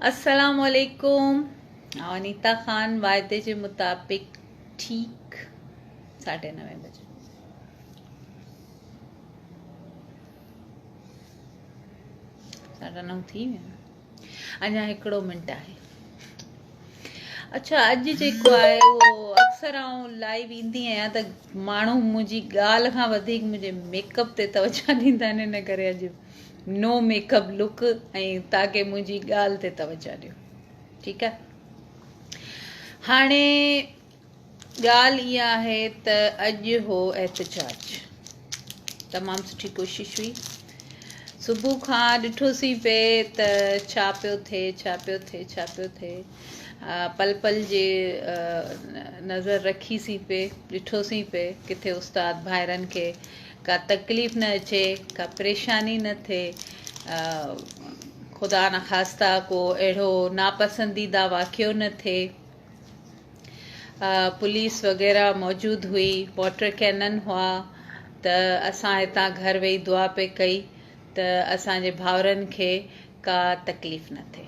السلام عليڪم انيتا خان واعدي جي مطابق ٺيڪ ساڍي نوي بجي ساڍا نو ٿي ويا اڃا هڪڙو منٽ آهي اچھا اڄ جيڪو آهي اهو اڪثر آئون لائيو ايندي آهيان ته ماڻهو منهنجي ڳالهه کان وڌيڪ منهنجي ميڪ اپ تي توجه ڏيندا آهن ان ڪري اڄ نو ميڪ اپ لڪ ۽ تاڪي منهنجي ڳالهه تي توجه ڏيو ٺيڪ آهي هاڻي ڳالهه اها آهي ته اڄ هو احتجاج تمام سٺي ڪوشش هئي صبح کان ڏٺوسين پئي ته ڇا پيو ٿئي ڇا پيو ٿئي ڇا پيو ٿئي پل پل جي نظر رکيسين پئي ڏٺوسين پئي ڪٿي استاد ڀائرن کي ڪا تڪليف نه اچي، ڪا پريشاني نه ٿئي، خدا نخواسته ڪو اهڙو ناپسنديده واقعو نه ٿئي. پوليس وغيره موجود هئي، واٽر ڪينن هئا ته اسان هتان گهر ويهي دعا پئي ڪئي ته اسان جي ڀائرن کي ڪا تڪليف نه ٿئي.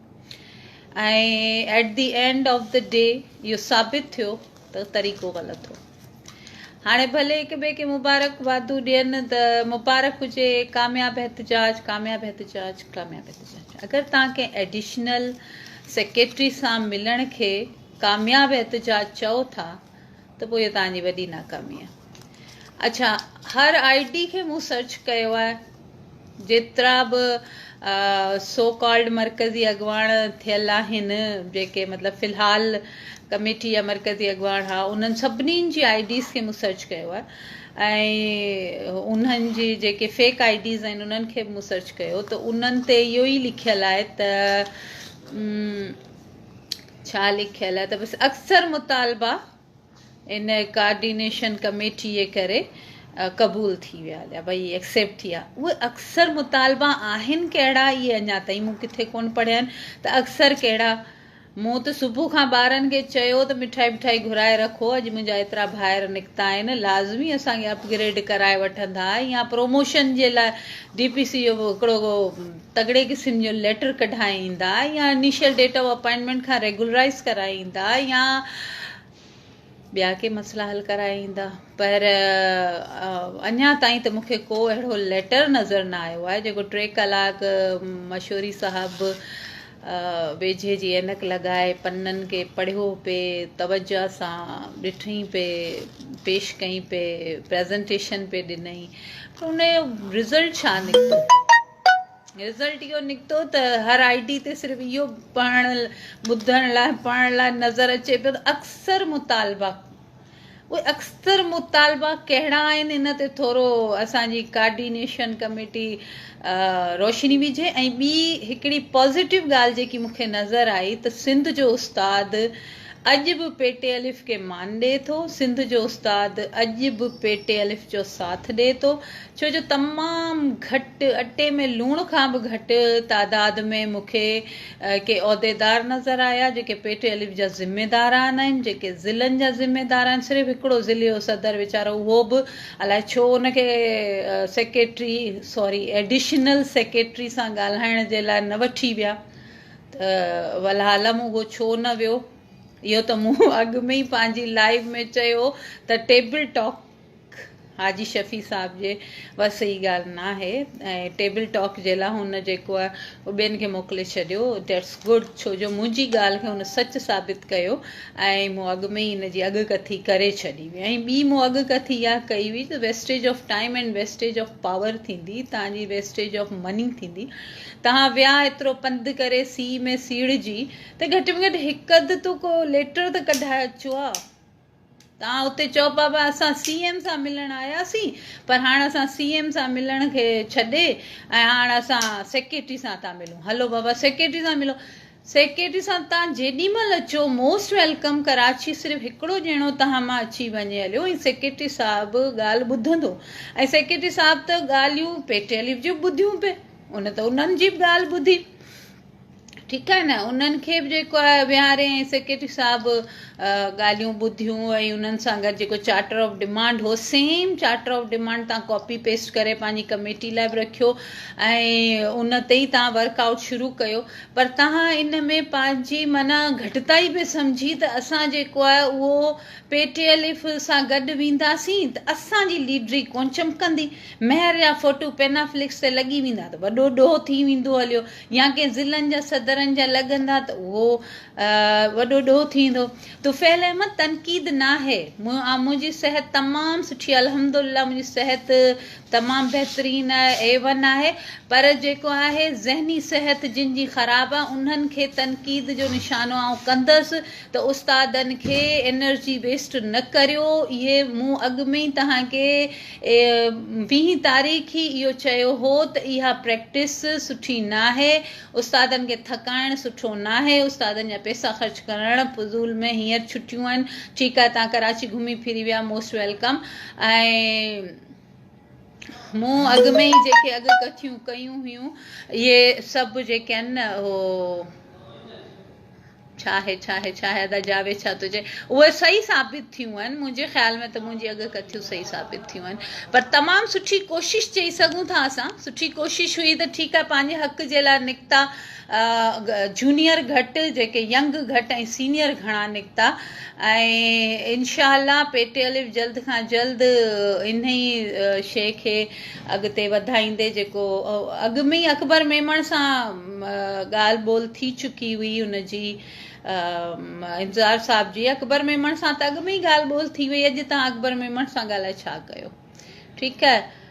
۽ At the end of the day اهو ثابت ٿيو ته طريقو غلط هو هاڻي ڀلي هڪ ٻئي کي مبارڪ وادو ڏين ته مبارڪ هجي ڪامياب احتجاج ڪامياب احتجاج ڪامياب احتجاج اگر تان ڪنهن ايڊيشنل سيڪريٽري سان ملڻ کي ڪامياب احتجاج چئو ٿا ته پوء اهي توهان جي وڏي ناڪامي آهي اڇا هر آئي ڊي کي مون سرچ ڪيو آهي جيترا به سو ڪالڊ مرڪزي اڳواڻ ٿيل آهن جيڪي مطلب في الحال ڪميٽي يا مرڪزي اڳواڻ ها انهن سڀني جي آئي ڊيز کي مون سرچ ڪيو آهي ۽ انهن جي جيڪي فيڪ آئي ڊيز آهن انهن کي به مون سرچ ڪيو ته انهن تي اهو ئي لکيل آهي ته ڇا لکيل آهي ته بس اڪثر مطالبا ان ڪارڊينيشن ڪميٽيء ڪري قبول ٿي ويا يا ڀئي ايڪسيپٽ ٿي ويا اهي اڪثر مطالبا آهن ڪهڙا اهي اڃا تائين مون ڪٿي ڪون پڙهيا آهن ته اڪثر ڪهڙا مون ته صبح کان ٻارن کي چيو ته مٺائي مٺائي گهرائي رکو اڄ منهنجا ايترا ڀائر نڪتا آهن لازمي اسان کي اپ گريڊ ڪرائي وٺندا يا پروموشن جي لاء ڊي پي سي جو هڪڙو تڳڙي قسم جو ليٽر ڪڍائي ايندا يا انيشل ڊيٽ آف اپائنٽمينٽ کان ريگولرائيز ڪرائي ايندا يا ٻيا ڪي مسئلا حل ڪرائي ايندا پر اڃا تائين ته مونکي ڪو اهڙو ليٽر نظر نه آيو آهي جيڪو ٽي ڪلاڪ مشوري صاحب ويجهي جي عينڪ لڳائي پنن کي پڙهيو پي توجه سان ڏٺئي پي پيش ڪئي پي پريزنٽيشن پي ڏنئي پر ان جو رزلٽ ڇا نڪتو رزلٽ اهو نڪتو ته هر آئي ڊي تي صرف اهو پڙهڻ ٻڌڻ لاء پڙهڻ لاء نظر اچي پيو ته اڪثر مطالبا اهي اڪثر مطالبا ڪهڙا آهن ان تي ٿورو اسان جي ڪارڊينيشن ڪميٽي روشني وجهي ۽ ٻي هڪڙي پازيٽو ڳالهه جيڪي مون کي نظر آئي ته سنڌ جو استاد اڄ به پيٽي الف کي مان ڏي ٿو سنڌ جو استاد اڄ به پيٽي الف جو ساٿ ڏي ٿو ڇو جو تمام گهٽ اٽي ۾ لوڻ کان به گهٽ تعداد ۾ مون کي ڪي عهديدار نظر آيا جيڪي پيٽي الف جا ذميدار آنهن جيڪي ضلعن جا ذميدار آهن صرف هڪڙو ضلعي جو صدر ويچارو اهو به الائي ڇو ان کي سيڪريٽري سوري ايڊيشنل سيڪريٽري سان ڳالهائڻ جي لاء نه وٺي ويا ته ولعالم اهو ڇو نه ويو اهو ته مون اڳ ۾ ئي پنهنجي لائيو ۾ چيو ته ٽيبل ٽاڪ حاجي شفيع صاحب جي وس ئي ڳالهه ناهي ۽ ٽيبل ٽاڪ جي لاء هن جيڪو آهي اهو ٻين کي موڪلي ڇڏيو That's Good ڇو جو منهنجي ڳالهه کي هن سچ ثابت ڪيو ۽ مون اڳ ۾ ئي ان جي اڳ ڪٿي ڪري ڇڏي هئي ۽ ٻي مون اڳ ڪٿي اها ڪئي هئي ته Wastage of Time and Wastage of Power ٿيندي توهان جي Wastage of Money ٿيندي توهان ويا ايترو پنڌ ڪري سيء ۾ سيڙهجي ته گهٽ ۾ گهٽ هڪ اڌ تو ڪو ليٽر ته ڪڍائي اچو ها. توهان اتي چئو پيا ته اسان سي ايم سان ملڻ آياسين پر هاڻ اسان سي ايم سان ملڻ کي ڇڏي ۽ هاڻ اسان سيڪريٽري سان ٿا ملون هلو بابا سيڪريٽري سان ملو سيڪريٽري سان توهان جيڏي مهل اچو موسٽ ويلڪم ڪراچي صرف هڪڙو ڄڻو توهان مان اچي وڃي هليو ۽ سيڪريٽري صاحب ڳالهه ٻڌندو ۽ سيڪريٽري صاحب ته ڳالهيون پيٽيليف جون ٻڌيون پئي ان ته انهن جي به ڳالهه ٻڌي ٺيڪ آهي نه انهن کي به جيڪو آهي ويهاري ۽ سيڪريٽري صاحب ڳالهيون ٻڌيون ۽ انهن سان گڏ جيڪو چارٽر آف ڊمانڊ هو سيم چارٽر آف ڊمانڊ تان ڪاپي پيسٽ ڪري پنهنجي ڪميٽي لاء به رکيو ۽ ان تي ئي تان ورڪ آؤٽ شروع ڪيو پر تان ان ۾ پنهنجي معنيٰ گهٽتائي به سمجهي ته اسان جيڪو آهي اهو پي ٽي ايل ايف سان گڏ وينداسين ته اسان جي ليڊري ڪون چمڪندي مهر يا فوٽو پينا فليڪس تي لڳي ويندا ته وڏو ڏوهه ٿي ويندو هليو يا ڪنهن ضلعن جا صدرن جا لڳندا ته اهو وڏو ڏوهه ٿيندو. طفيل احمد، تنقيد ناهي، منهنجي صحت تمام سٺي آهي الحمدالله منهنجي صحت تمام بهترين آهي اي ون آهي پر جيڪو آهي ذهني صحت جن جي خراب آهي انهن کي تنقيد جو نشانو آئون ڪندس ته استادن کي انرجي ويسٽ نه ڪريو اهي مون اڳ ۾ ئي توهان کي ويهين تاريخ ئي اهو چيو هو ته اها پريڪٽس سٺي ناهي، استادن کي ٿڪائڻ سٺو ناهي، استادن جا پئسا خرچ ڪرڻ فضول ۾ هينئر ڇٽيون آهن ٺيڪ آهي تهان ڪراچي گهمي ڦري ويا موسٽ ويلڪم ۽ مون اڳ ۾ ئي جيڪي اڳ ڪٿيون ڪيون هيون اهي سڀ جيڪي آهن نه اهو ڇا هي ڇا هي ڇا هي ادا جاويد ڇا ٿو چئي اهي صحيح ثابت ٿيون آهن منهنجي خيال ۾ ته منهنجي اڳ ڪٿيون صحيح ثابت ٿيون آهن پر تمام سٺي ڪوشش چئي سگهون ٿا اسان سٺي ڪوشش هئي ته ٺيڪ آهي پنهنجي حق جي لاء نڪتا جونيئر گهٽ جيڪي ينگ گهٽ ۽ سينيئر گهڻا نڪتا ۽ انشاء الله پيٽي الف جلد کان جلد انهي شي کي اڳتي وڌائيندي جيڪو اڳ ۾ ئي اڪبر ميمڻ سان ڳالهه ٻولهه ٿي چڪي هئي ان جي انتظار صاحب جي اڪبر ميمڻ سان ته اڳ ۾ ئي ڳالهه ٻولهه ٿي وئي اڄ تان اڪبر ميمڻ سان ڳالهائي ڇا ڪيو ٺيڪ آهي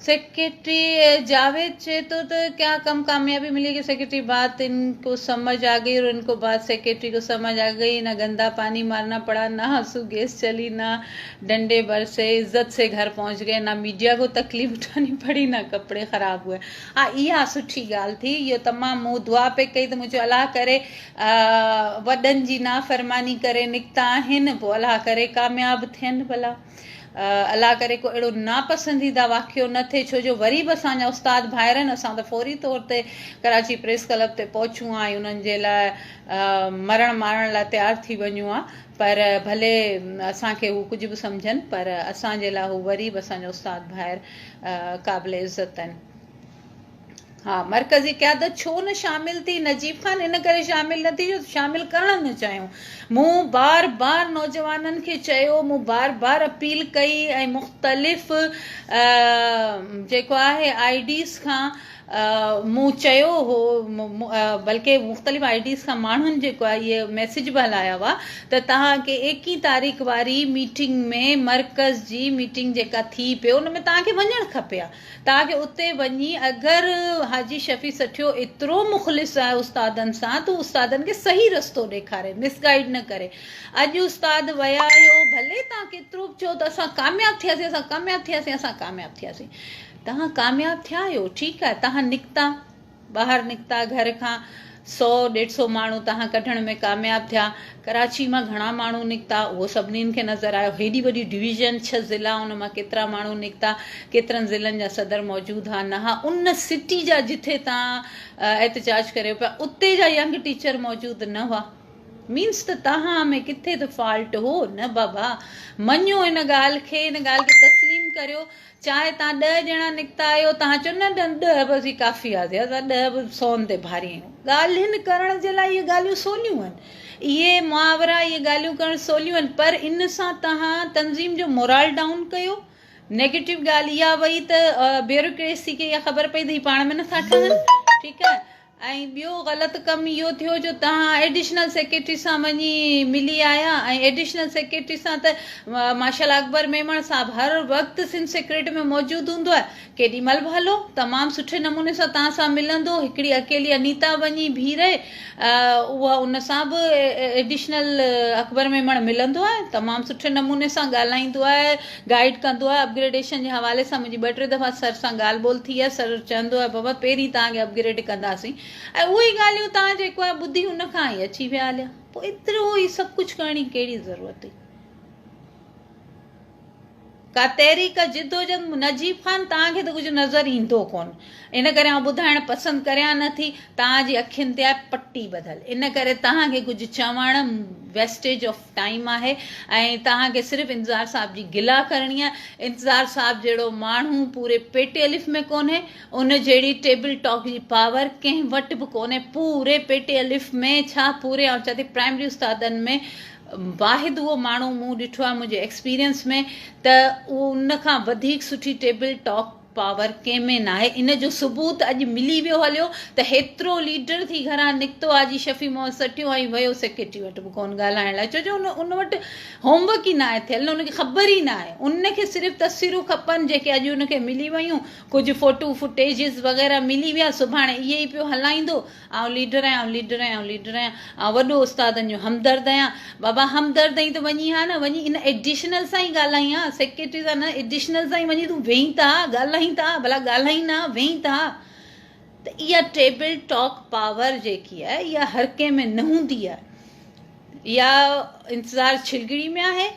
سيڪريٽري جاويد چئي ٿو ته ڪيا ڪم ڪاميابي ملي گئي سيڪريٽري بات ان کو سمجھ آ گئي اور ان کو بات سيڪريٽري کو سمجھ آ گئي نہ گندا پاني مارنا پڙا نہ آنسو گيس چلي نہ ڊنڊي بر سي عزت سي گهر پهچ گئي نه ميڊيا ڪو تڪليف اٺاني پڙي نه ڪپڙي خراب هئي ها اها سٺي ڳالهه ٿي اهو تمام مون دعا پئي ڪئي ته مون چيو الله ڪري وڏن جي نافرماني ڪري نڪتا آهن پوء الله ڪري ڪامياب ٿين ڀلا الله ڪري ڪو اهڙو ناپسنديده واقعو نه ٿئي ڇو جو وري به اسان جا استاد ڀائرن اسان ته فوري طور تي ڪراچي پريس ڪلب تي پهچون ها ۽ انهن جي لاء مرڻ مارڻ لاء تيار ٿي وڃون ها پر ڀلي اسان کي هو ڪجهه به سمجهن پر اسان جي لاء هو وري به اسان جو استاد ڀائر قابل عزت آهن. ها مرڪزي قيادت ڇو نه شامل ٿي نجيب خان ان ڪري شامل نه ٿي جو شامل ڪرڻ نه چاهيون مون بار بار نوجوانن کي چيو مون بار بار اپيل ڪئي ۽ مختلف جيڪو آهي آئي ڊيز کان مون چيو هو بلڪ مختلف آئي ڊيز کان ماڻهن جيڪو آهي اهي ميسيج به هلايا هئا ته توهان کي ايڪيهين تاريخ واري ميٽنگ ۾ مرڪز جي ميٽنگ جيڪا ٿي پئي ان ۾ توهان کي وڃڻ کپي ها توهان کي اتي وڃي اگر حاجي شفيع سٺيو ايترو مخلص آهي استادن سان ته استادن کي صحيح رستو ڏيکاري مس گائيڊ نه ڪري اڄ استاد ويا آهيو ڀلي توهان ڪيترو به چئو ته اسان ڪامياب ٿياسين اسان ڪامياب ٿياسين اسان ڪامياب ٿياسين توهان ڪامياب ٿيا آهيو ٺيڪ آهي توهان نڪتا ٻاهر نڪتا گهر کان سو ڏيڍ سو ماڻهو توهان ڪڍڻ ۾ ڪامياب ٿيا ڪراچي مان گهڻا ماڻهو نڪتا اهو سڀني کي نظر آيو هيڏي وڏي ڊويزن ڇهه ضلع ان مان ڪيترا ماڻهو نڪتا ڪيترن ضلعن جا صدر موجود ها نه ها ان سٽي جا جتي توهان احتجاج ڪريو پيا اتي جا ينگ ٽيچر موجود نه هئا مينس ته توهان ۾ ڪٿي ته فالٽ هو نه بابا مڃو ان ڳالهه کي ان ڳالهه کي تسليم ڪريو چاهي تهان ڏهه ڄڻا نڪتا آهيو، تهان چئو نه نه ڏهه به اسين ڪافي آهياسين، اسان ڏهه به سون تي ڀاري آهيون. ڳالهين ڪرڻ جي لاء اهي ڳالهيون سوليون آهن. اهي محاورا، اهي ڳالهيون ڪرڻ سوليون آهن پر ان سان تهان تنظيم جو مورال ڊائون ڪيو. نيگيٽو ڳالهه اها وئي ته بيوروڪريسي کي اها خبر پئي ته هي پاڻ ۾ نٿا ٺهن، ٺيڪ آهي. ۽ ٻيو غلط ڪم اهو ٿيو جو توهان ايڊيشنل سيڪريٽري سان وڃي ملي آيا ۽ ايڊيشنل سيڪريٽري سان ته ماشاء الله اڪبر ميمڻ صاحب هر وقت سنڌ سيڪريٽريٽ ۾ موجود هوندو آهي ڪيڏي مهل به هلو تمام سٺي نموني سان توهان سان ملندو هڪڙي اڪيلي انيتا وڃي بيهي رهي اها ان سان به ايڊيشنل اڪبر ميمڻ ملندو آهي تمام سٺي نموني سان ڳالهائيندو آهي گائيڊ ڪندو آهي اپگريڊيشن جي حوالي سان منهنجي ٻه ٽي دفعا سر سان ڳالهه ٻولهه ٿي آهي سر چوندو آهي بابا پهرين توهان کي اپگريڊ ڪنداسين ۽ اهي ڳالهيون توهان جيڪو آهي ٻڌي ان کان هي اچي ويا هليا پوء ايترو هي سڀ ڪجهه ڪرڻ جي ڪهڙي ضرورت هئي ڪا تحريڪ جدوجهد نجيب خان توهان کي ته ڪجهه نظر ايندو ڪون ان ڪري آئون ٻڌائڻ پسند ڪريان نه ٿي توهان جي اکين تي آهي پٽي ٻڌل ان ڪري توهان کي ڪجهه چوڻ ويسٽيج آف ٽائيم آهي ۽ توهان کي صرف انتظار صاحب جي گلا ڪرڻي آهي انتظار صاحب جهڙو ماڻهو پوري پي ٽي الف ۾ ڪونهي ان جهڙي ٽيبل ٽاڪ جي پاور ڪنهن وٽ به ڪونهي پوري پي ٽي الف ۾ ڇا پوري آئون چاهيان ٿي پرائمري استادن ۾ واحد اهو ماڻهو مون ڏٺو آهي منهنجي ايڪسپيرينس ۾ ته ان کان وڌيڪ سٺي ٽيبل ٽاڪ پاور ڪنهن ۾ ناهي ان جو ثبوت اڄ ملي ويو هليو ته هيترو ليڊر ٿي گهران نڪتو آجي شفيع محمد سٽيو ۽ ويو سيڪريٽري وٽ به ڪون ڳالهائڻ لاء ڇو جو ان ان وٽ هوم ورڪ ئي ناهي ٿيل نه ان کي خبر ئي ناهي ان کي صرف تصويرون کپن جيڪي اڄ ان کي ملي ويون ڪجهه فوٽو فوٽيجز وغيره ملي ويا سڀاڻي اهي ئي پيو هلائيندو آئون ليڊر آهيان، آئون ليڊر آهيان، آئون ليڊر آهيان، آئون وڏو استادن جو همدرد آهيان. بابا همدرد آهين ته وڃي ها نه، وڃي ان ايڊيشنل سان ئي ڳالهائين ها، سيڪريٽري سان نه، ايڊيشنل سان ئي وڃي تون ويهين ته ها، ڳالهائين ته ها، ڀلا ڳالهائين نه ها، ويهين ته ها. ته اها ٽيبل ٽاڪ پاور جيڪي آهي اها هر ڪنهن ۾ نه هوندي آهي. يا انتظار ڇلڳڙي ۾ آهي،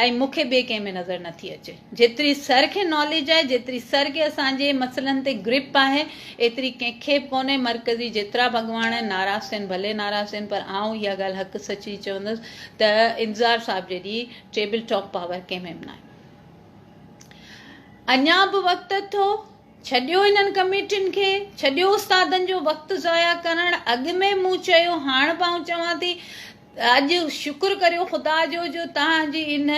۽ مون کي ٻئي ڪنهن ۾ نظر نه ٿي اچي جيتري سر کي ناليج آهي جيتري سر کي اسان جي مسئلن تي گرپ آهي ايتري ڪنهن کي به ڪونهي مرڪزي جيترا به اڳواڻ آهن ناراض ٿين ڀلي ناراض ٿين پر آئون اها ڳالهه حق سچ جي چوندس ته انتظار صاحب جيڏي ٽيبل ٽاپ پاور ڪنهن ۾ به ناهي اڃا به وقت اٿو ڇڏيو انهن ڪميٽين کي ڇڏيو استادن جو وقت ضايع ڪرڻ اڳ ۾ مون چيو هاڻ به آئون چوان ٿي اڄ شڪر ڪريو خدا جو جو توهان جي ان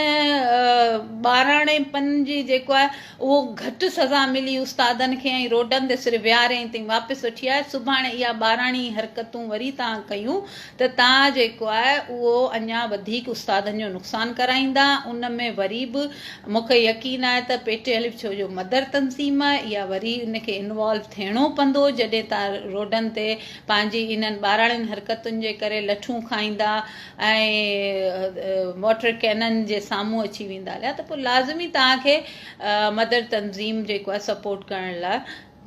ٻاراڻي پن جي جيڪو آهي اهو گهٽ سزا ملي استادن کي ۽ روڊن تي صرف ويهارين تائين واپس وٺي آيا سڀاڻي اها ٻاراڻي حرڪتون وري توهان ڪيون ته توهان جيڪو آهي اهو اڃا وڌيڪ استادن جو نقصان ڪرائيندا ان ۾ وري به مونکي يقين آهي ته پيٽي الف ڇو جو مدر تنظيم آهي اها وري ان کي انوالو ٿيڻو پندو جڏهن توهان روڊن تي پنهنجي انهن ٻاراڻين حرڪتن جي ڪري لٺون کائيندا ۽ واٽر ڪينن جي سامهون اچي ويندا ليا ته پوء لازمي توهان کي مدر تنظيم جيڪو آهي سپورٽ ڪرڻ لاء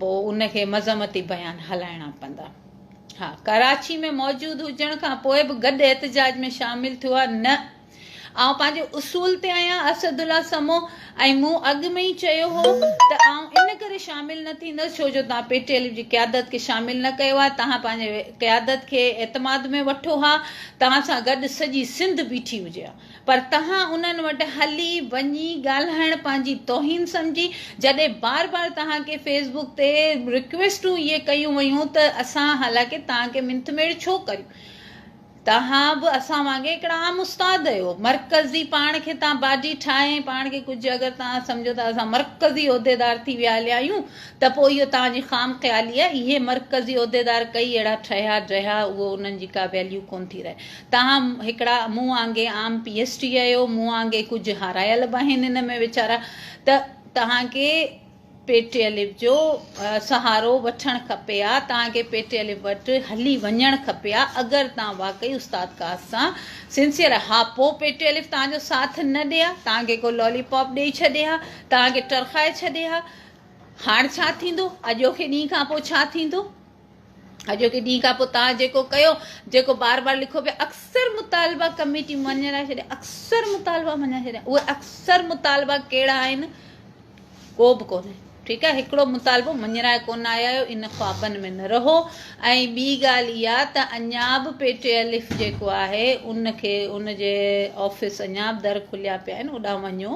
پوء ان کي مذمتي بيان هلائڻا پوندا ها ڪراچي ۾ موجود هجڻ کان پوء به گڏ احتجاج ۾ شامل ٿيو آهي نه آئون پنهنجي اصول تي آهيان اسد الله سمو ۽ مون اڳ ۾ ئي چيو هو ته آئون ان ڪري شامل نه ٿيندس ڇو جو توهان پي ٽي ايليف جي قيادت کي شامل نه ڪيو آهي توهان پنهنجي قيادت کي اعتماد ۾ وٺو ها توهان سان گڏ سڄي سنڌ بيٺي هجي ها پر توهان انهن وٽ هلي وڃي ڳالهائڻ پنهنجي توهين سمجهي جڏهن بار بار توهان کي فيس بڪ تي رڪويسٽون اهي ڪيون ويون ته اسان حالانڪه توهان کي منٿ ميڙ ڇو ڪريون توهان به اسان وانگي هڪڙا عام استاد اهيو مرڪزي پاڻ کي تان باڊي ٺاهي ۽ پاڻ کي ڪجهه اگر توهان سمجهو ته اسان مرڪزي عهديدار ٿي ويا هليا آهيون ته پوء اهو توهان جي خام خيالي آهي اهي مرڪزي عهديدار ڪئي اهڙا ٺهيا ڊهيا اهو انهن جي ڪا ويليو ڪونه ٿي رهي توهان هڪڙا مون وانگي عام پي ايس ٽي اهيو مون وانگي ڪجهه هارايل به آهن ان ۾ ويچارا ته توهان کي پيٽي الف جو سهارو وٺڻ کپي ها، توهان کي پيٽي الف وٽ هلي وڃڻ کپي ها اگر توهان واقعي استاد قاص سان سنسيئر ها پوء پيٽي الف توهان جو ساٿ نه ڏئي ها، توهان کي ڪو لالي پاپ ڏئي ڇڏي ها، توهان کي ٽرخائي ڇڏي ها، هاڻ ڇا ٿيندو؟ اڄوڪي ڏينهن کان پوء ڇا ٿيندو؟ اڄوڪي ڏينهن کان پوء توهان جيڪو ڪيو، جيڪو بار بار لکو پيا، اڪثر مطالبا ڪميٽي مڃي نه ڇڏيا، اڪثر مطالبا مڃي ڇڏيا، اهي اڪثر مطالبا ڪهڙا آهن، ڪو به ڪونهي. ٺيڪ آهي هڪڙو مطالبو مڃرائي ڪونه آيا آهيو ان خوابن ۾ نه رهو ۽ ٻي ڳالهه اها ته اڃا به پي ٽي الف جيڪو آهي ان کي ان جي آفيس اڃا به در کليا پيا آهن اوڏانهن وڃو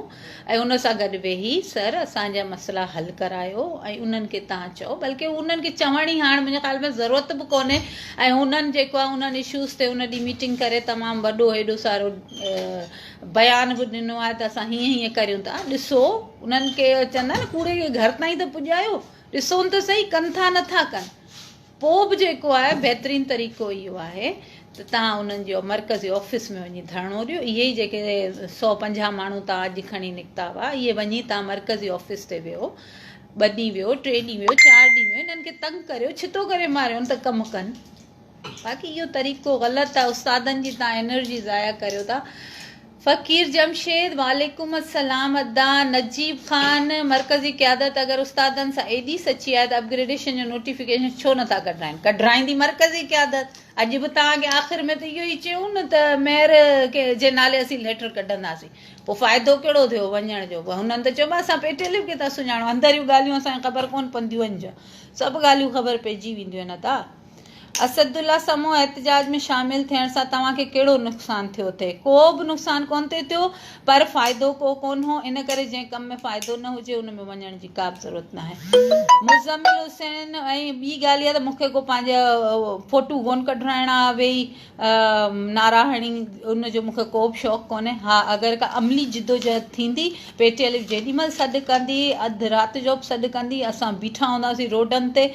۽ ان سان گڏ ويهي سر اسان جا مسئلا حل ڪرايو ۽ انهن کي تان چئو بلڪه انهن کي چوڻ ئي هاڻ منهنجي خيال ۾ ضرورت به ڪونهي ۽ انهن جيڪو آهي انهن اشوز تي ان ڏينهن ميٽنگ ڪري تمام وڏو هيڏو سارو بيان به ڏنو آهي ته اسان هيئن هيئن ڪريون ٿا ڏسو انهن کي چوندا نه ڪوڙي کي گهر تائين ته پڄايو ڏسون ته سهي ڪن ٿا نٿا ڪن پوء به جيڪو آهي بهترين طريقو اهو آهي ته تهان انهن جي مرڪزي آفيس ۾ وڃي ڌرڻو ڏيو. اهي ئي جيڪي سؤ پنجاهه ماڻهو تهان اڄ کڻي نڪتا هئا، اهي وڃي تهان مرڪزي آفيس تي ويهو. ٻه ڏينهن ويهو، ٽي ڏينهن ويهو، چار ڏينهن ويهو، انهن کي تنگ ڪريو، ڇتو ڪري ماريون ته ڪم ڪن. باقي اهو طريقو غلط آهي. استادن جي تهان انرجي ضايع ڪريو ٿا. فقير جمشيد، وعليڪم السلام ادا. نجيب خان، مرڪزي قيادت اگر استادن سان ايڏي سچي آهي ته اپ گريڊيشن جو نوٽيفڪيشن ڇو نٿا ڪڍرائين؟ ڪڍرائيندي مرڪزي قيادت. اڄ به توهان کي آخر ۾ ته اهو ئي چيون نه ته ميئر جي نالي اسين ليٽر ڪڍنداسين. پوء فائدو ڪهڙو ٿيو وڃڻ جو؟ پوء هنن ته چيو به اسان پي ٽي ايلف کي ٿا سڃاڻون. اندريون ڳالهيون اسان کي خبر ڪونه پونديون آهن ڇا؟ سڀ ڳالهيون خبر پئجي وينديون آهن ادا. اسدالله سمون احتجاج ۾ شامل ٿيڻ سان توهان کي ڪهڙو نقصان ٿيو اٿئي؟ ڪو به نقصان ڪونه اٿئي ٿيو پر فائدو ڪو ڪونه هو ان ڪري جنهن ڪم ۾ فائدو نه هجي ان ۾ وڃڻ جي ڪابه ضرورت ناهي. مزمل حسين ۽ ٻي ڳالهه اها ته مون کي ڪو پنهنجا فوٽو ڪونه ڪڍرائڻا ويهي نعرا هڻي ان جو مون کي ڪو به شوق ڪونهي ها اگر ڪا عملي جدوجهد ٿيندي پي ٽي الف جيڏي مهل سڏ ڪندي اڌ رات جو به سڏ ڪندي اسان بيٺا هونداسين روڊن تي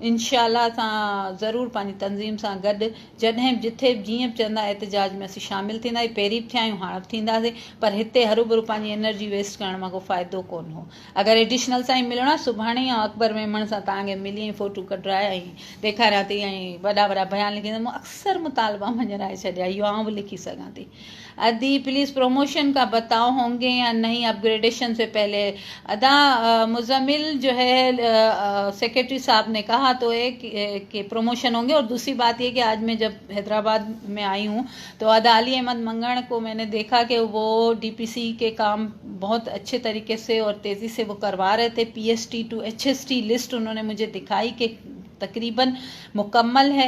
انشاء الله اسان ضرور پنهنجي تنظيم سان گڏ جڏهن به جٿي به جيئن به چوندا احتجاج ۾ اسين شامل ٿيندا آهيون پهرين به ٿيا آهيون هاڻ به ٿينداسين پر هتي هروڀرو پنهنجي انرجي ويسٽ ڪرڻ مان ڪو فائدو ڪون هو اگر ايڊيشنل سان ئي ملڻو آهي سڀاڻي آئون اڪبر ميمڻ سان توهان کي ملي ۽ فوٽو ڪڍرائي ۽ ڏيکاريان ٿي ۽ وڏا وڏا بيان لکي مون اڪثر مطالبا مڃرائي ڇڏيا اهو آئون به لکي سگهان ٿي ادي پليز پروموشن ڪا بتائو هونگي يا نئي اپ گريڊيشن سي پهلي ادا مزمل جو هي سيڪريٽري صاحب ني ڪها تو هي ڪي پروموشن هونگي اور دوسري بات يي ڪي آج مي جب حيدرآباد مي آئي هون تو ادا علي احمد منگڻ ڪو مي ني ديکا ڪي وو ڊي پي سي ڪي ڪام بهت اڇي طريقي سي اور تيزي سي وو ڪروا رهي ٿي P S T two H S T list انهون ني مجهي دکائي ڪي تقريبن مڪمل هي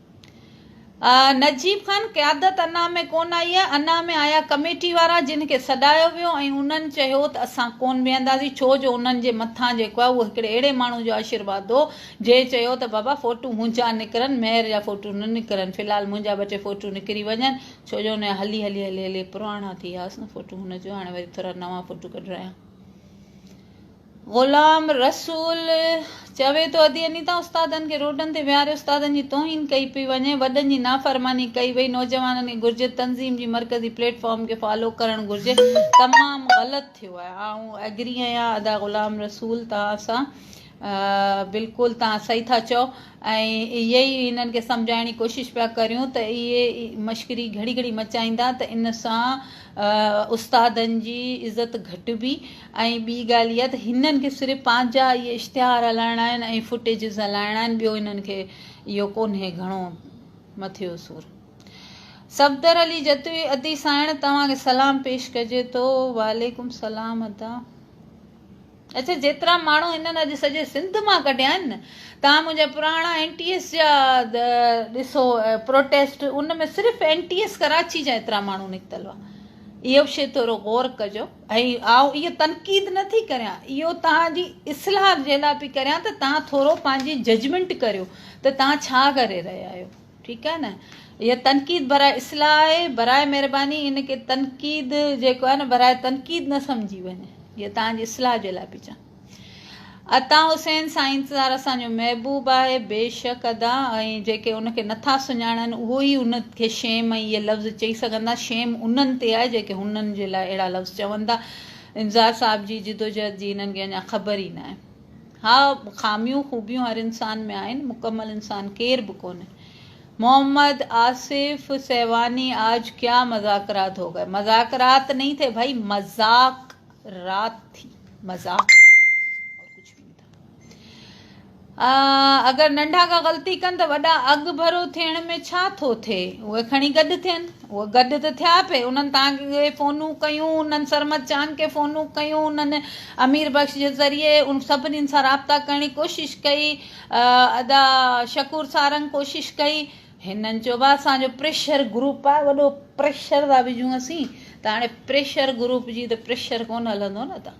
نجيب خان قيادت انا ۾ ڪونه آئي آهي، انا ۾ آيا ڪميٽي وارا جن کي سڏايو ويو ۽ انهن چيو ته اسان ڪونه ويهنداسين ڇو جو انهن جي مٿان جيڪو آهي اهو هڪڙي اهڙي ماڻهو جو آشيرواد هو جنهن چيو ته بابا فوٽو منهنجا نڪرن ميئر جا فوٽو نه نڪرن في الحال منهنجا ٻه ٽي فوٽو نڪري وڃن ڇو جو انهيا هلي هلي هلي هلي پراڻا ٿي ويا هئس نه فوٽو هن چيو هاڻي وري ٿورا نوان فوٽو ڪڍرايان. غلام رسول چوي ٿو ادي اني تان استادن کي روڊن تي ويهاري استادن جي توهين ڪئي پئي وڃي، وڏن جي نافرماني ڪئي وئي، نوجوانن کي گهرجي تنظيم جي مرڪزي پليٽ فارم کي فالو ڪرڻ گهرجي، تمام غلط ٿيو آهي. آئون ايگري آهيان ادا غلام رسول توهان سان بلڪل توهان صحيح ٿا چئو ۽ اهي ئي هنن کي سمجهائڻ جي ڪوشش پيا ڪريون ته اهي مشڪري گهڙي گهڙي مچائيندا ته ان سان استادن جي عزت گهٽبي ۽ ٻي ڳالهه اها ته هنن کي صرف پنهنجا اهي اشتهار هلائڻا آهن ۽ فوٽيجز هلائڻا آهن ٻيو هنن کي اهو ڪونهي گهڻو مٿي جو سور. صفدر علي جتوئي ادي سائڻ توهان کي سلام پيش ڪجي ٿو. وعليڪم سلام ادا. اچا جيترا ماڻهو هنن اڄ سڄي سنڌ مان ڪڍيا آهن نه تان منهنجا پراڻا اين ٽي ايس جا ڏسو پروٽيسٽ ان ۾ صرف اين ٽي ايس ڪراچي جا ايترا ماڻهو نڪتل هئا اهو به شي ٿورو غور ڪجو. ۽ آئون اهو تنقيد نه ٿي ڪريان اهو توهان جي اصلاح جي لاء پئي ڪريان ته توهان ٿورو پنهنجي ججمينٽ ڪريو ته توهان ڇا ڪري رهيا آهيو ٺيڪ آهي نه هي تنقيد براء اصلاح آهي براء مهرباني ان کي تنقيد جيڪو آهي نه براء تنقيد نه سمجهي وڃي هي توهان جي اصلاح جي لاء پئي چوان عطا حسين سائينزدار اسان جو محبوب آهي بيشڪ ادا ۽ جيڪي ان کي نٿا سڃاڻن اهو ئي ان کي شيم ۽ اهي لفظ چئي سگهندا شيم انهن تي آهي جيڪي هنن جي لاء اهڙا لفظ چون ٿا امزار صاحب جي جدوجهد جي هنن کي اڃا خبر ئي ناهي ها خاميون خوبيون هر انسان ۾ آهن مڪمل انسان ڪير به ڪونهي محمد آصف سيواني آج ڪيا مذاڪرات هو گئے مذاڪرات نہیں تھے بھائی مذاق رات ٿي مذاق ٿا اور ڪجھ بي نه ٿا اگر ننڍا ڪا غلطي ڪن ته وڏا اڳ ڀرو ٿيڻ ۾ ڇا ٿو ٿئي اهي کڻي گڏ ٿين اهي گڏ ته ٿيا پي انهن تان کي فونون ڪيون انهن سرمد چانگ کي فونون ڪيون انهن امير بخش جي ذريعي ان سڀني سان رابطا ڪرڻ جي ڪوشش ڪئي ادا شڪور سارنگ ڪوشش ڪئي هنن چيو اسان جو پريشر گروپ آهي وڏو پريشر ٿا وجهون اسين ته هاڻي پريشر گروپ جي ته پريشر ڪونه هلندو نه ته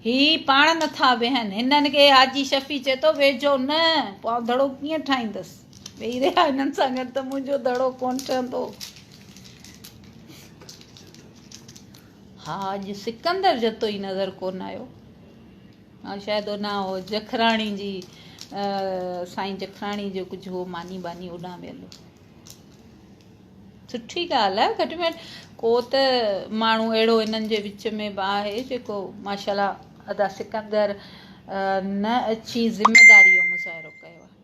هي پاڻ نٿا ويهن هنن کي حاجي شفيع چئي ٿو ويجهو نه پوء آئون دڙو ڪيئن ٺاهيندس ويهي رهيا هنن سان گڏ ته منهنجو دڙو ڪونه ٺهندو ها اڄ سڪندر جتو ئي نظر ڪونه آيو شايد ان جکراڻي جي سائين جکراڻي جو ڪجهه هو ماني باني اوڏان ويل هو سٺي ڳالهه آهي گهٽ ۾ ڪو ته ماڻهو اهڙو انهن جي وچ ۾ به آهي جيڪو ماشاء الله ادا سڪندر نه اچي ذميداري جو مظاهرو ڪيو آهي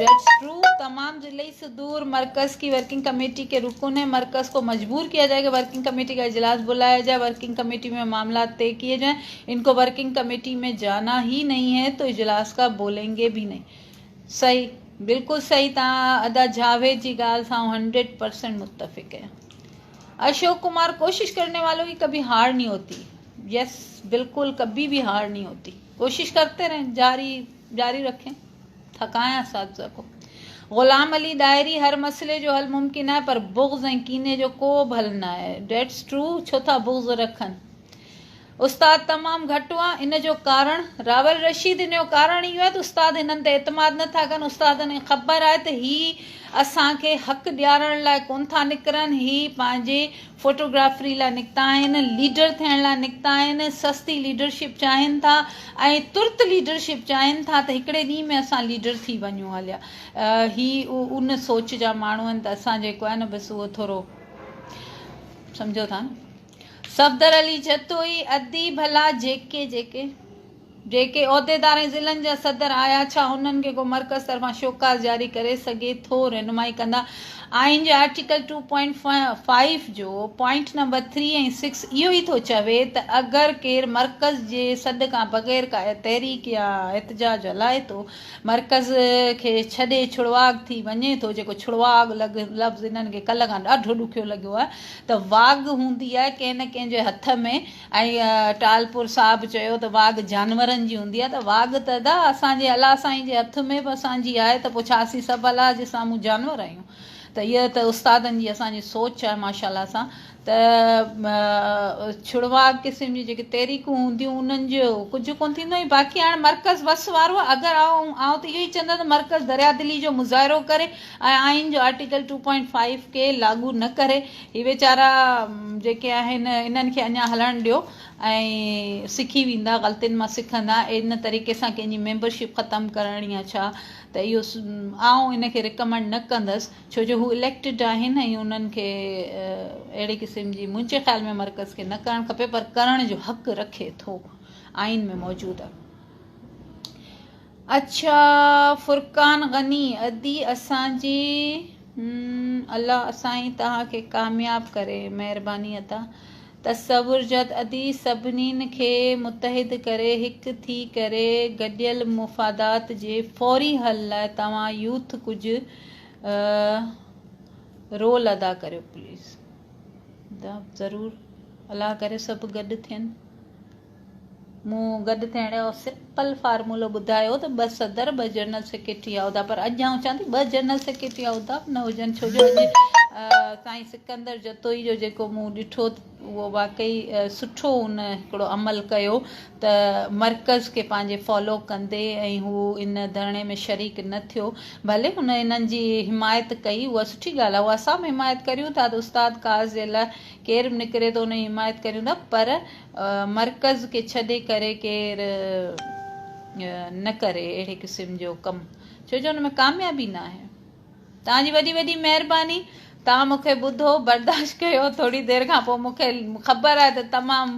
That's true تمام ضلعي صدور مرڪز ڪي ورڪنگ ڪميٽي ڪي رڪن هين مرڪز ڪو مجبور ڪيا جائي ڪي ورڪنگ ڪميٽي ڪا اجلاس بلايا جائي ورڪنگ ڪميٽي مين معاملات طي ڪيي جائين ان ڪو ورڪنگ ڪميٽي مين جانا هي نهين هين تو اجلاس ڪا بولين گي بهي نهين صحيح بلڪل صحيح تان ادا جاويد جي ڳالهه سان آئون هنڊريڊ پرسينٽ متفق هين اشوڪ ڪمار ڪوشش ڪرني والو ڪي ڪبهي هار نهين هوتي يس بلڪل ڪبهي بهي هار نهين هوتي ڪوشش ڪرتي رهين جاري جاري رکين ٿا ڪانه اساتذه ڪو غلام علي ڏاهري هر مسئلي جو حل ممڪن آهي پر بغض ۽ ڪيني جو ڪو به حل نه آهي ڊيٽس ٽرو ڇو ٿا بغض رکن استاد تمام گهٽ هئا ان جو ڪارڻ راول رشيد ان جو ڪارڻ اهو آهي ته استاد هنن تي اعتماد نه ٿا ڪن استادن کي خبر آهي ته هي اسان کي حق ڏيارڻ لاء ڪون ٿا نڪرن هي پنهنجي فوٽوگرافري لاء نڪتا آهن، ليڊر ٿيڻ لاء نڪتا آهن، سستي ليڊرشپ چاهين ٿا ۽ ترت ليڊرشپ چاهين ٿا ته هڪڙي ڏينهن ۾ اسان ليڊر ٿي وڃون هليا هي ان سوچ جا ماڻهو آهن ته اسان جيڪو آهي نه بس اهو ٿورو سمجهو ٿا نه صفدر علي جتوئي ادي ڀلا جيڪي جيڪي جيڪي عهديدار ۽ ضلعن جا صدر آيا، ڇا انهن کي ڪو مرڪز طرفان شوڪاز جاري ڪري سگهي ٿو؟ رهنمائي ڪندا. آئين جي آرٽيڪل ٽو پوائنٽ فائيو جو پوائنٽ نمبر ٿري ۽ سڪس اهو ئي ٿو چوي ته اگر ڪير مرڪز جي سڏ کان بغير ڪا تحريڪ يا احتجاج هلائي ٿو، مرڪز کي ڇڏي ڇڙواڳ ٿي وڃي ٿو، جيڪو ڇڙواڳ لفظ هنن کي ڪلهه کان ڏاڍو ڏکيو لڳيو آهي ته واڳ هوندي آهي ڪنهن نه ڪنهن جي هٿ ۾. ۽ ٽالپور صاحب چيو ته واڳ جانورن جي هوندي آهي ته واڳ ته ادا اسان جي الله سائين جي هٿ ۾ به اسان جي آهي ته پوء ڇا اسين سڀ الله جي سامهون جانور آهيون ته هيء ته استادن جي اسان جي سوچ آهي ماشاء الله سان ته ڇڙواڳ قسم جي جيڪي تحريڪون هونديون انهن جو ڪجهه ڪون ٿيندو ۽ باقي هاڻي مرڪز وس وارو آهي اگر آئون آئون ته اهو ئي چوندس ته مرڪز دريادلي جو مظاهرو ڪري ۽ آئين جو آرٽيڪل ٽو پوائنٽ فائيو کي لاڳو نه ڪري هي ويچارا جيڪي آهن انهن کي اڃا هلڻ ڏيو ۽ سکي ويندا غلطين مان سکندا ان طريقي سان ڪنهن جي ميمبرشپ ختم ڪرڻ يا ڇا ته اهو آئون ان کي رڪمنڊ نه ڪندس ڇو جو هو اليڪٽيڊ آهن ۽ انهن کي اهڙي قسم جي منهنجي خيال ۾ مرڪز کي نه ڪرڻ کپي پر ڪرڻ جو حق رکي ٿو آئين ۾ موجود اڇا فرقان غني ادي اسان جي الله سائين توهان کي ڪامياب ڪري مهرباني ادا تصور جد ادي سڀنين کي متحد ڪري هڪ ٿي ڪري گڏيل مفادات جي فوري حل لاء توهان يوٿ ڪجه رول ادا ڪريو پليز ادا ضرور الله ڪري سڀ گڏ ٿين مون گڏ ٿيڻ جو سمپل فارمولو ٻڌايو ته ٻه صدر ٻه جنرل سيڪريٽري يا عهدا پر اڄ آئون چوان ٿي ٻه جنرل سيڪريٽري يا عهدا به نه هجن ڇو جو اڄ سائين سڪندر جتوئي جو جيڪو مون ڏٺو اهو واقعي سٺو ان هڪڙو عمل ڪيو ته مرڪز کي پنهنجي فالو ڪندي ۽ هو ان ڌرڻي ۾ شريڪ نه ٿيو ڀلي هن انهن جي حمايت ڪئي اها سٺي ڳالهه آهي اها اسان به حمايت ڪريون ٿا ته استاد قاض جي لاء ڪير به نڪري ٿو ان جي حمايت ڪريون ٿا پر مرڪز کي ڇڏي ڪري ڪير نه ڪري اهڙي قسم جو ڪم ڇو جو ان ۾ ڪاميابي نه آهي توهان جي وڏي وڏي مهرباني توهان مون کي ٻڌو برداشت ڪيو ٿوري دير کان پوء مون کي خبر آهي ته تمام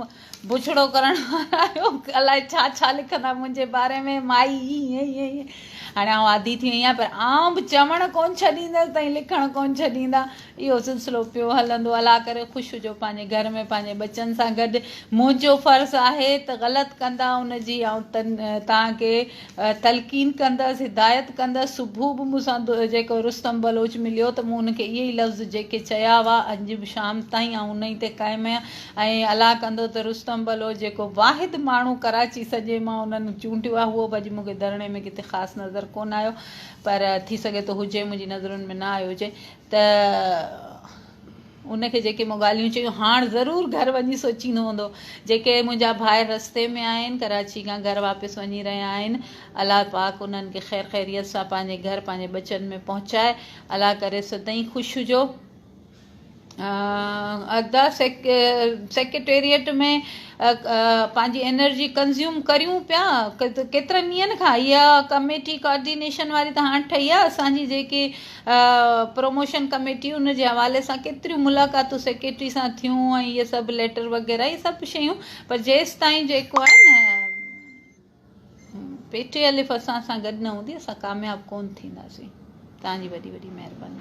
بڇڙو ڪرڻ وارا آهيو الاء ڇا ڇا لکندا منهنجي باري ۾ مائي ائين ائين هاڻي آئون عادي ٿي وئي آهيان پر آئون به چوڻ ڪون ڇڏيندس تائين لکڻ ڪون ڇڏيندا اهو سلسلو پيو هلندو. الله ڪري خوش هجو پنهنجي گهر ۾ پنهنجي ٻچن سان گڏ. منهنجو فرض آهي ته غلط ڪندا ان جي آئون توهان کي تلقين ڪندس، هدايت ڪندس. صبح به مون سان جيڪو رستم بلوچ مليو ته مون ان کي اهي ئي لفظ جيڪي چيا هئا اڄ به شام تائين آئون ان ئي تي قائم آهيان ۽ الله ڪندو ته رستم بلوچ جيڪو واحد ماڻهو ڪراچي سڄي مان انهن چونڊيو آهي هو به اڄ مون کي ڌرڻي ۾ ڪٿي خاص نظر ڪونه آيو پر ٿي سگهي ٿو هجي منهنجي نظرن ۾ نه آيو هجي. ته ان کي جيڪي مون ڳالهيون چيون هاڻ ضرور گهر وڃي سوچيندو هوندو جيڪي منهنجا ڀائر رستي ۾ آهن ڪراچي کان گهر واپس وڃي رهيا آهن الله پاڪ انهن کي خير خيريت سان پنهنجي گهر پنهنجي ٻچن ۾ پهچائي الله ڪري سدائين خوش هجو ادا سيڪريٽريٽ ۾ پنهنجي انرجي ڪنزيوم ڪريون پيا ڪيترن ڏينهن کان اها ڪميٽي ڪارڊينيشن واري ته هاڻ ٺهي آهي اسانجي جيڪي پروموشن ڪميٽي ان جي حوالي سان ڪيتريون ملاقاتون سيڪريٽري سان ٿيون ۽ اهي سڀ ليٽر وغيره اهي سڀ شيون پر جيستائين جيڪو آهي نه پي ٽي الف اسان سان گڏ نه هوندي اسان ڪامياب ڪون ٿينداسين تنهنجي وڏي وڏي مهرباني